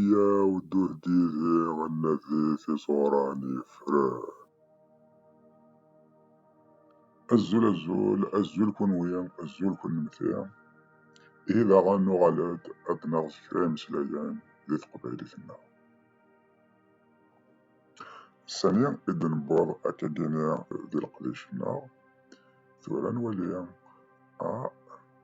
Yyaw dduh d yid-i ad nadi tiẓuran yefren. Azul azul, azul kunwi, azul kunemti. Ihi daɣen nuɣal-d ad naɣ s kra imeslayen di teqbaylit-nneɣ. Sani i d-newweḍ akkagi-ni di leqdic-nneɣ, tura nwali ah,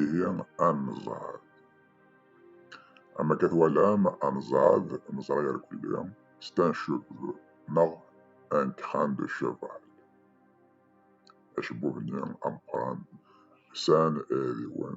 ihi ad nezɛed am akka twalam ad nezɛed neẓra irkelli c'est un cheveu neɣ un crin de cheval acebbub-nni ameqqran sɛan iɛidiwen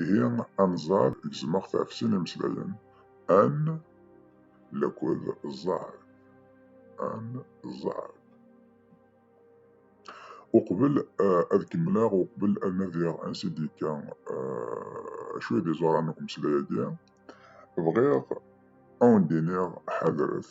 ihi anẓar gezmeɣ-t ɣef sin imeslayen an lakud ẓar an ẓar uqbel eh, ad kemmleɣ uqbel ad nadiɣ ansi d-yekka eh, acu i d iẓuran n umeslay-agi bɣiɣ ad wen-d-iniɣ ḥadret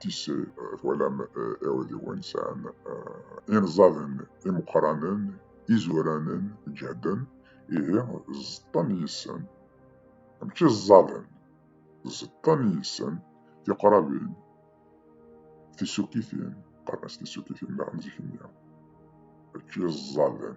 tisse eh, twalam eh, iɛudiwen sɛan eh, inẓaden imeqqranen izuranen ǧehden ihi ẓeṭṭen yissen mačči ẓẓaden ẓeṭṭen yissen tiqrabin tisukitin qqaren-as tisukitin daɣen zik-nni mačči ẓẓaden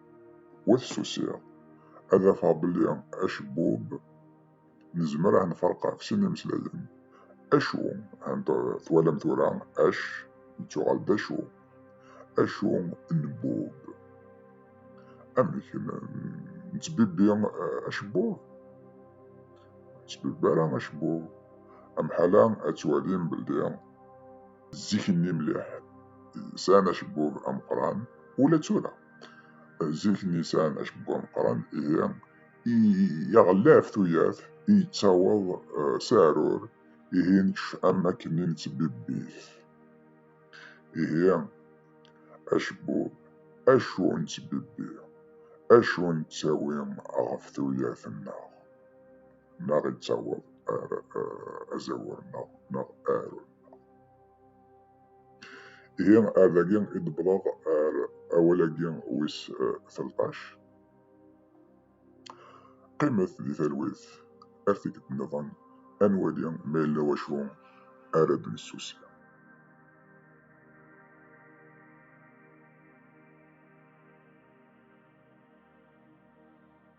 Wat susiɣ, ad afeɣ belli acebbub nezmer a nferq ɣef sin imeslayen. Acu, twalam tura, ac yettuɣal d acu. Acu n bub. Amek, nettbibbi acebbub? Ur nettbibbi ara acebbub. Amḥala ad twalim belli zik-nni mliḥ sɛan acebbub ameqqran, ula d tura. Zik-nni sɛan acebbuɛ ameqqran, ihi iɣella ɣef tuyat, yettaweḍ s aɛrur, ihi nekcef am wakken nettbibbit. Ihi acebbu, acu nettbibbi, acu nettawi ɣef tuyat-nneɣ, neɣ yettaweḍ ar azawur-nneɣ neɣ aɛrur-nneɣ. Ihi ar dagi i d-wwḍeɣ ar awal-agi wis telṭac. Qqimet di talwit ar tikkelt nniḍen ad nwali ma yella wacu ara d-nessusi.